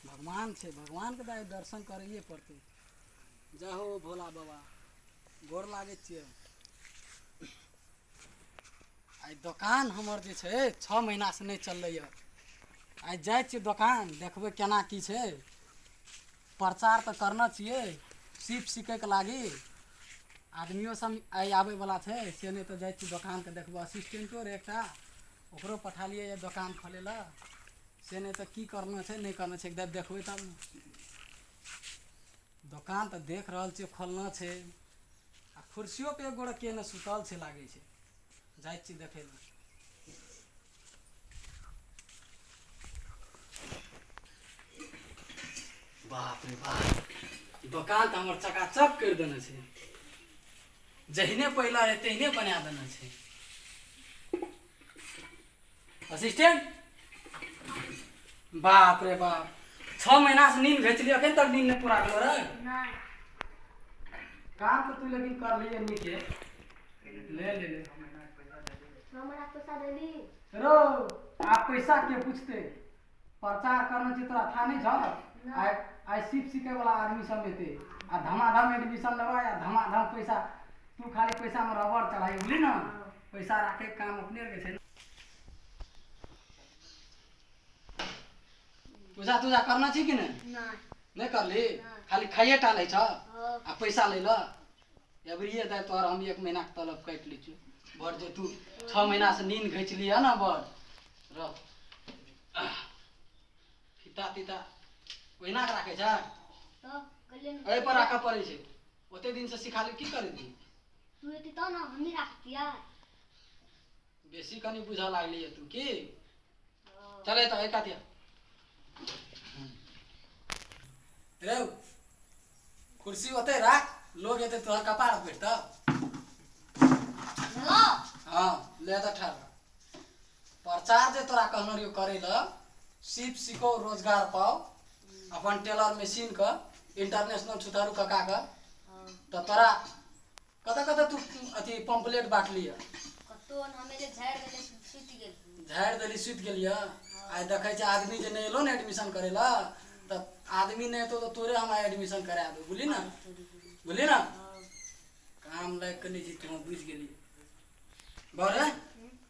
भगवान छै भगवानके तऽ दर्शन करैए पड़तै जय हो भोला बाबा गोर लागै छियै आइ दोकान हमर जे छै छओ महीनासँ नहि चललैए आइ जाइ छियै दोकान देखबै केना की छै प्रचार तऽ करना छियै सीप सीखैके लागी आदमियो सब आइ आबैवला छै से नहि तऽ जाइ छी दोकानके देखबो असिस्टेंटो रहै एकटा ओकरो पठेलियै यऽ दोकान खोलै लए से नहि तऽ की करना छै नहि करना छै एक बेर देखबै तब ने दोकान तऽ देख रहल छियै खोलना छै आ कुर्सियोपर एक गोरे केने सुतल छै लागै छै जाइ छी देखै लए बाप रे बाप दोकान तऽ हमर चकाचक करि देने छै जहिने पहिला रहै तहिने बना देने छै असिस्टेंट बाप रे बाप छओ महीनासँ नींद घचलियै एखन तक नींद नहि पूरा भेलो रहै नहि काम तऽ तू लेकिन कर लिए नीके ले ले ले हमरा पैसा देली रो आ पैसा के पूछते प्रचार करना चाहिए तोरा था नहीं छल आइ आइ सिप सीखे वाला आदमी सब एते आ धमाधम एडमिशन लेबा आ धमाधम पैसा तू खाली पैसा में रबड़ चढ़ाई बुझली ना पैसा राखे के काम अपने के छै ना। पूजा तूजा करना छी कि नहीं नहीं नहीं करली नहीं। खाली खाइए टा लै छ हाँ। आ पैसा लै ल एवरिए दाइ तोहर हम एक महीनाके तलब काटि लै छियौ बड़ जे तू छओ महीनासँ नीन घैच लिहऽ ने बड़ रह फीता तीता ओहिना कऽ राखै छै एहिपर राखऽ पड़ै छै ओते दिनसँ सिखा ली की करै छी तू एती तो ना हम ही रखतिया बेसी कनि बुझऽ लागली है तू की चल एतऽ एक कातिया रे कुर्सी ओते राख लोग एते तोहर कपार बैठ तऽ हेलो हाँ ले तऽ ठार रह। प्रचार जे तोरा कहने रहियो करे ल सीप सीखो रोजगार पाओ अपन टेलर मशीन क इंटरनेशनल छुतारू कका क तऽ तोरा कतऽ कतऽ तू अथी पम्पलेट बाँटली यऽ कतहु ने हमे जे झाड़ि देलियै से सुति गेल झाड़ि देली सुति गेल यऽ आइ देखै छै आदमी जे नहि एलो ने एडमिशन करै लए तऽ आदमी नहि एतौ तऽ तोरे हम आइ एडमिशन करा देबौ बुझली ने बुझली ने काम लागि कऽ नहि छी तू बुझि गेली बड़े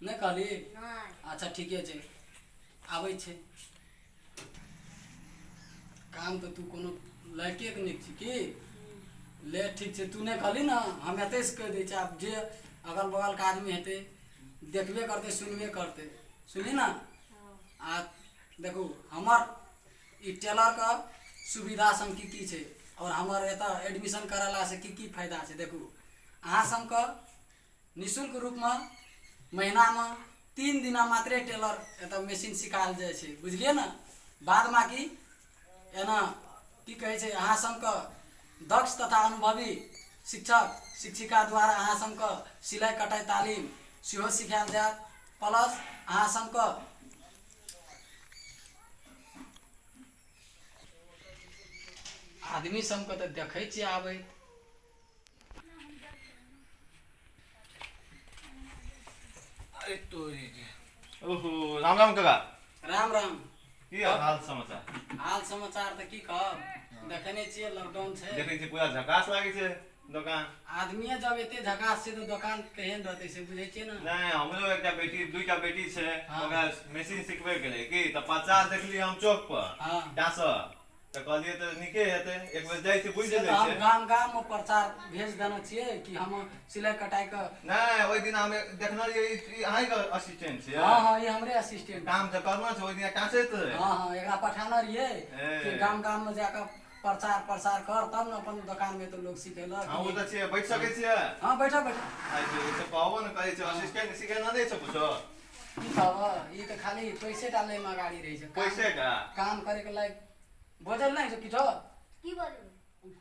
नहि कहली अच्छा ठीके छै आबै छै काम तऽ तू कोनो लड़केके नीक छी की ले ठीक छै तू नहि कहली ने हम एतहिसँ कहि दै छी आब जे अगल बगलके आदमी हेतै देखबे करतै सुनबे करतै सुनली ने आ देखू हमर ई टेलरके सुविधा सम की की छै आओर हमर एतऽ एडमिशन करेलासँ की की फायदा छै देखू अहाँ सभके निःशुल्क रूपमे महिनामे तीन दिना मात्रे टेलर एतऽ मेसिन सिखाएल जाइ छै बुझलियै ने बाद बाँकी एना की कहै छै अहाँ सबके दक्ष तथा अनुभवी शिक्षक शिक्षिका द्वारा अहाँ सबके सिलाइ कटाइ तालीम सेहो सिखाएल जायत प्लस अहाँ सबके आदमी सबके तऽ देखै छियै आबैत अरे तोरी के। ओहो राम राम काका राम राम की हाल समाचार हाल समाचार तऽ की कहब देखने छियै लॉकडाउन छै देखै छी पूरा झकास लागै छै दोकान आदमीए जब एते झकास छै तऽ दोकान केहन रहतै से बुझै छियै ने नहि हमरो एकटा बेटी दुईटा बेटी छै हाँ। ओकरा मशीन सिखबे के रहे की तऽ पचास देखली हम चौक पर हाँ। डांसर तऽ कहलिए तऽ नीके हेतै एक बेर जाइ छी बुझि से तऽ जाइ हम छै गाम गाम मे प्रचार भेज देने छियै कि हम सिलाइ कटाइ के नहि ओहि दिन हम देखने रहियै ई- ई अहींके असिस्टेंट छियै हँ हँ ई हमरे असिस्टेंट काम तऽ करना छै ओहि दिन काँसे तऽ रहै हँ हँ एकरा पठाने रहियै ए। कि गाम गाम मे जाकऽ प्रचार प्रसार कर तब ने अपन दोकान मे तऽ लोग सिखेलक हँ ओ तऽ छियै बैठ सकै छियै हँ बैठऽ बैठऽ आइ तऽ कहबो ने करै छै असिस्टेंट सिखेने नहि छै किछो की कहबह ई तऽ खाली पैसे टा लैमे अगाड़ी रहै छै काम पैसे टा काम करैके लायक बजल नहि छै किछो की बजबै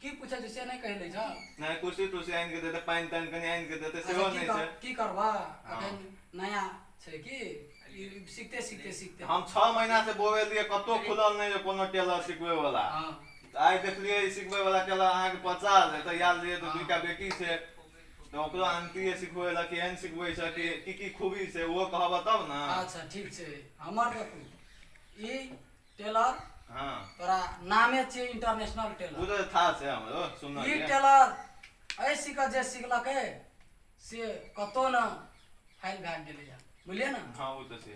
की पूछै छै से नहि कहि लै छौ नहि कुर्सी तुर्सी आनि कऽ देतै पानि तानि कनि आनि कऽ देतै सेहो अच्छा की नहि कर छै की करबह हँ। एखन नया छै की ई सीखते सीखते सीखते हम छओ महीना से बोवेलियै कतहु खुलल नहि यऽ कोनो टेलर सिखबै वाला हँ आइ देखलियै ई सिखबै वाला टेलर अहाँके पचास एतऽ आयल रहियै तऽ दूटा बेटी छै तऽ ओकरो आंटीए सिखबै लए केहन सिखबै छै कि की की खूबी छै ओहो कहबह तब ने अच्छा ठीक छै हमर देखू ई टेलर हँ तोरा नामे छियै इंटरनेशनल ओ टेलर तऽ था छै हमरो ई सुनलियै टेलर एहि सीखऽ जे सिखलकै से कतहु ने फाइल भए गेलैए बुझलियै ने हँ ओ तऽ छै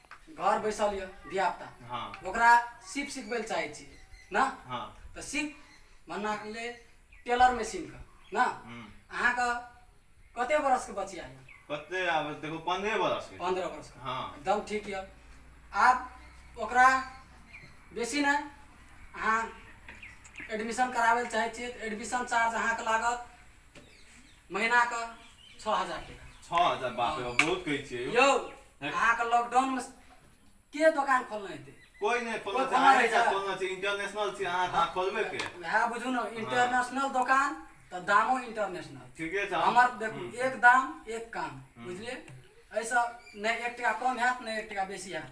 घर बैसल यऽ धियापुता हँ ओकरा सीप सिखबै लए चाहै छी ने हँ तऽ सीप मना ले टेलर मशीनके ने हूँ अहाँके कते बरसके बचिया यऽ कते आब देखो पंद्रह बरस के पंद्रह बरसके हँ एकदम ठीक यऽ आब ओकरा बेसी नहि अहाँ एडमिशन कराबै लए चाहै छियै तऽ एडमिशन चार्ज अहाँके लागत महीना के छओ हजार टका छओ हजार बाप रे बाप, बहुत कहै छियै यौ। यौ अहाँके लॉकडाउन मे के दोकान खोलने हेतै कोई नहि खोलना कोई छै खोलना अहाँ नहि एकटा छै। खोलना छै इंटरनेशनल छी अहाँ अहाँ खोलबे के वएह बुझू ने इंटरनेशनल दोकान तऽ दामो इंटरनेशनल ठीके छै हमर देखू हम्म। एक दाम एक काम बुझलियै एहिसँ नहि एक टका कम हैत नहि एक टका बेसी हैत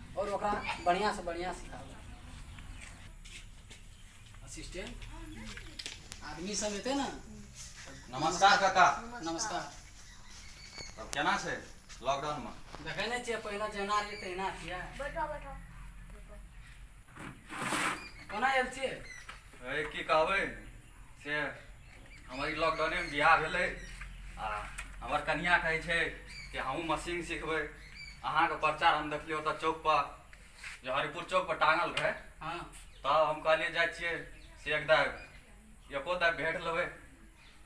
और ओकरा बढ़िया से बढ़िया सिखाओ असिस्टेंट आदमी सब एते ना नमस्कार काका नमस्कार तब केना छै लॉकडाउन में देखे नहीं छे पहला जना रहिए तहिना छिए बैठो बैठो कोना आयल छिए ए की कहबै से हमर ई लॉकडाउनेमे बियाह भेलै आ हमर कनिया कहै छै कि हमहूँ मशीन सिखबै अहाँके प्रचार हम देखलियै ओतऽ चौकपर जे हरिपुर चौकपर टाँगल रहै हँ तब हम कहलियै जाइ छियै से एक दाय एको दाय भेट लेबै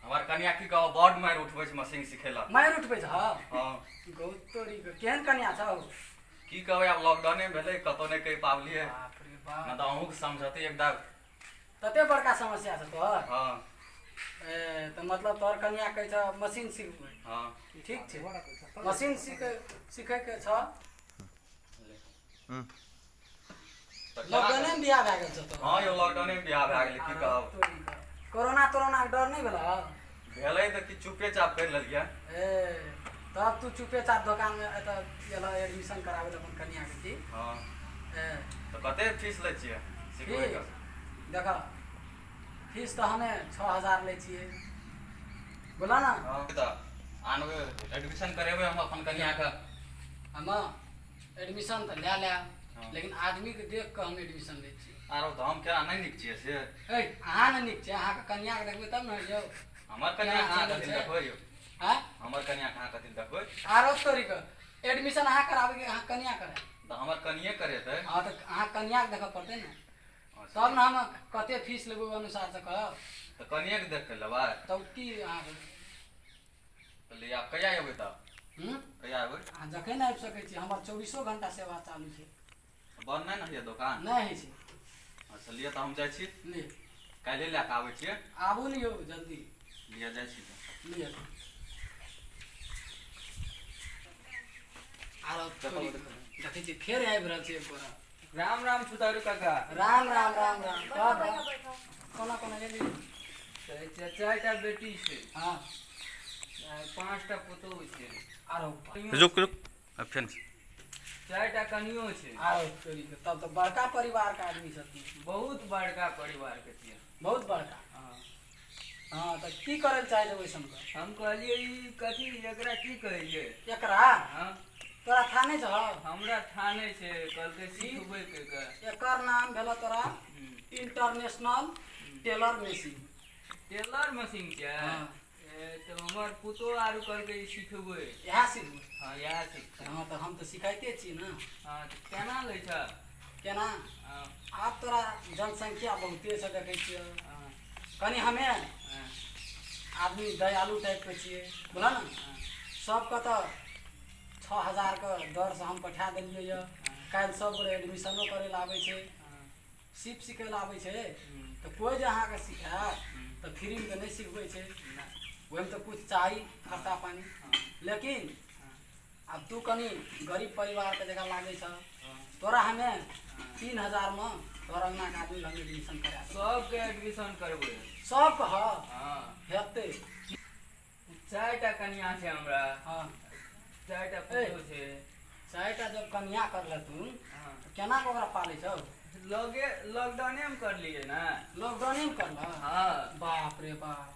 हमर कनिया की कहब बड मारि उठबै छै मशीन सिखै लए मारि उठबै छ हँ गौतोरी केहन कनिया छौ की कहबै आब लॉकडाउने भेलै कतहु नहि कहि पाबलियै बाप रे नहि बाप तऽ अहूँके समझतै एक दाय तते बड़का समस्या छै तोहर हँ ए, तऽ मतलब तोहर कनिया कहै छ मशीन सिखबै हँ ठीक छै मशीन सीख सीखैके छ हूँ। तऽ केना लॉकडाउने करब? बियाह भए गेल छ तोहर हँ यौ लॉकडाउने मे बियाह भए गेलै की कहब तोरी कऽ। कोरोना तोरोनाके डर नहि भेलह भेलै तऽ कि चुपे चाप करि लेलियै ए तब तू चुपे चाप दोकानमे एतऽ एलऽ एडमिशन कराबै लए अपन कनियाके की हँ ए तऽ कते फीस लै छियै सिखबै फीस देखऽ फीस तऽ हमे छओ हजार लै छियै बोलऽ ने हँ तऽ आनबै एडमिशन करेबै हम अपन कनियाके हमे एडमिशन तऽ लए लए हँ। लेकिन आदमीके देख कऽ हम एडमिशन लै छी आरो तऽ हम केना नहि नीक छियै से ए अहाँ ने नीक छै अहाँके कन्याके देखबै तब ने यौ हमर कन्या कहाँ कथी लए देखबै यौ आँय हमर कन्या कहाँ कथी लए देखबै आरो तोरीके एडमिशन अहाँ कराबैके अहाँ कन्या करा तऽ हमर कनिये करेतै हँ तऽ अहाँ कन्याके देखऽ पड़तै ने तब ने हम कते फीस लेबै ओहि अनुसारसँ कहब तऽ कनिये के देख के लेबै तब की अहाँके कहलियै आब कहिया एबै तऽ हूँ कहिया एबै आ जखन आबि सकै छी हमर चौबीसो घंटा सेवा चालू छै बन्द नहि ने होइए दोकान नहि होइ छै अच्छा लिअ तऽ हम जाइ छी ले काल्हि लए कऽ आबै छियै आबू ने यौ जल्दी लिअ जाइ छी तऽ ले आरो चप्पल चोरी- देखै छी फेर आबि रहल छै एक गोरा राम राम सुतारू काका राम राम राम राम कह बा कोना कोना गेली तऽ चाचा एकटा बेटी छै हाँ आ पाँचटा पुतोहु छै आरो कहियो- रुक रुक अब फेन चारिटा कनियो छै आरो चोरी के तब तो बड़का परिवार का आदमी छथिन बहुत बड़का परिवार के छियै बहुत बड़का हँ। हाँ तो की करे चाहे थे वैसन का हम कहलिए ई कथी एकरा की कहिए एकरा हाँ तोरा था नहीं छो हमरा थाने से कल के सीखबे के का एकर नाम भेलो तोरा हम्म, international tailor machine tailor machine क्या हाँ। ए, तो हमर पुतो आरू कल के ई सीखबे यहाँ सीख हाँ यार सीख हाँ तो हम तो सिखाइते छी ना हाँ तो केना लै छ केना आब तोरा जनसंख्या बहुते से देखै छियै कनि हमे आदमी दयालु टाइपके छियै बुझल ने सबके तऽ छओ हजारके दरसँ हम पठा देलियै यऽ काल्हि सब गोरे एडमिशनो करै लए आबै छै सीप सिखै लए आबै छै तऽ कोइ जे अहाँके सिखायत तऽ फ्रीमे तऽ नहि सिखबै छै ओहिमे तऽ किछु चाही खर्चा पानि लेकिन आब तू कनी गरीब परिवार के जगह लागे छ तोरा हमे तीन हजार में तोहर अंगना के आदमी लग एडमिशन करा देब। सबके एडमिशन करबै सब कह हाँ हेतै चारि टा कनिया छै हमरा हाँ चारि टा पुतो छै चारिटा जब कन्या करले तू हाँ तऽ केना कऽ ओकरा पालै छौ लगे लॉकडाउने मे करलियै ने लॉकडाउने में करलह हाँ बाप रे बाप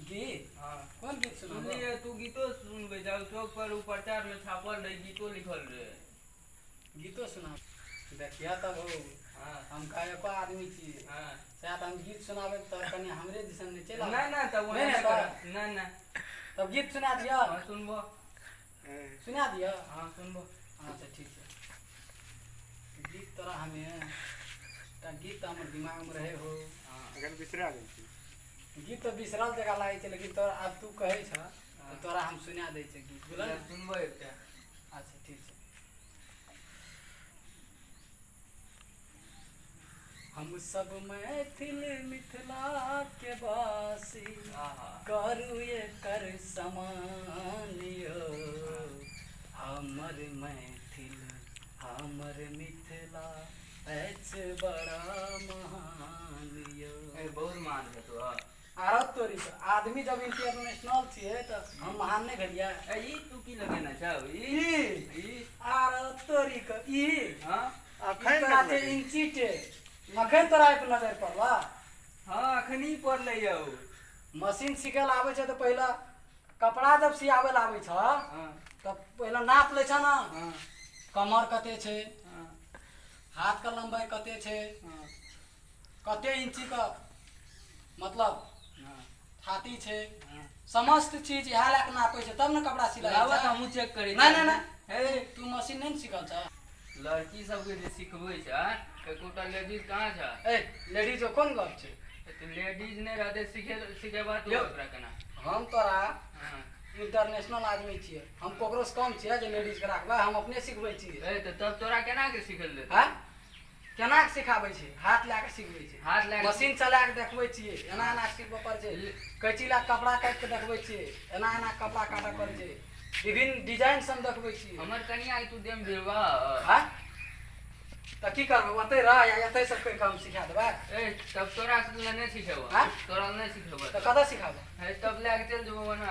जी हँ कोन गीत सुनबो सुनलियै तू गीतो सुनबै जाउ चौक पर ओ प्रचार मे छापल रहै गीतो लिखल रहै गीतो सुना देखियह तब हौ हँ हम गायको आदमी छी हँ सएह तऽ हम गीत सुनाबै तऽ कनि हमरे दिसन नहि चलि आबै। नहि नहि तब ओना नहि नहि एतऽ। करब। नहि नहि तब गीत सुना दिअ हँ सुनबो सुना दिअ हँ सुनबो अच्छा ठीक छै गीत तोरा हमे एकटा गीत तऽ हमर दिमागमे रहै हौ हँ अखन बिसरा गेल छी गीत तऽ बिसरल जगह लागै छै लेकिन तोरा आब तू कहै छ तऽ तोरा हम सुना दै छै गीत बोल सुनबो एकटा अच्छा ठीक छै हम सब मैथिल मिथिला के वासी करू एकर समान यो हमर मैथिल हमर मिथिला बहुत मान है तो आरो तोरी तो आदमी जब इंटरनेशनल छिए तो हम महान नहीं घड़िया ई तू की लगेना चाहो ई आरो तोरी को ई हां अखन काते इंची टे अखन तोरा पे नजर पड़ला हां अखन ई पड़ ले जाओ मशीन सिखल आवे छ तो पहला कपड़ा जब सियावे लावे छ हां तब पहला नाप ले छ ना कमर कते छे हाथके लम्बाइ कते छै हँ कते इंचीके मतलब हँ थाती छै हँ समस्त चीज इएह लए कऽ नापै छै तब ने कपड़ा सिलाइ लाबऽ होइ तऽ छै। हमहूँ चेक करै नहि नहि हे नहि तू मशीन नहि ने सिखल छ लड़की सबके जे सिखबै छै एकोटा लेडीज कहाँ छ ए लेडीज कोन गप छै तऽ लेडीज नहि रहतै सिखे सिखेबह तू यौ। ओकरा केना हम तोरा हँ इंटरनेशनल आदमी छियै हम ककरो से कम छियै जे लेडीज के राखबै हम अपने सिखबै छियै ए तऽ तब तोरा केना के सिखल दे हैं केना के सिखाबै छै हाथ लए के सिखबै छै हाथ लए के- मशीन चला के देखबै छियै एना एना के सिखबऽ पड़ै छै कैची लए के कपड़ा काटि के देखबै छियै एना एना के कपड़ा काटऽ पड़ै छै विभिन्न डिजाइन सब देखबै छियै हमर कनिया के तू देम भेबा हैं तऽ की करबै ओतै रह या एतै से कहि कऽ हम सिखा देबै ए तब तोरा से लए नहि सिखेबा हाँ? तोरा लए नहि सिखेबा तऽ कतऽ सिखाबै है तब लए के चल जेबो बना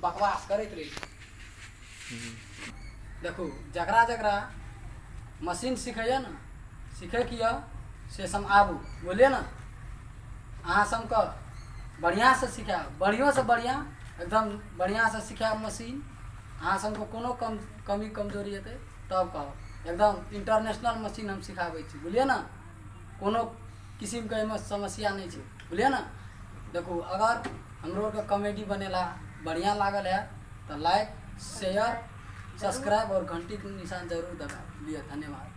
बकवास करैत रहै छै देखू जकरा जकरा मशीन सिखैए ने सिखैके यऽ से सब आबू बोलिए ने अहाँ सबके बढ़िआँसँ सिखायब बढ़िओसँ बढ़िआँ एकदम बढ़िआँसँ सिखायब मशीन अहाँ सबके कोनो कम कमी कमजोरी हेतै तब कहब एकदम इंटरनेशनल मशीन हम सिखाबै छी बुझलियै ने कोनो किसिमके एहिमे समस्या नहि छै बुझलियै ने देखू अगर हमरो आरके कॉमेडी बनेला बढ़िया लागल है तऽ लाइक शेयर सब्सक्राइब और घंटी के निशान जरूर दबा लिअ धन्यवाद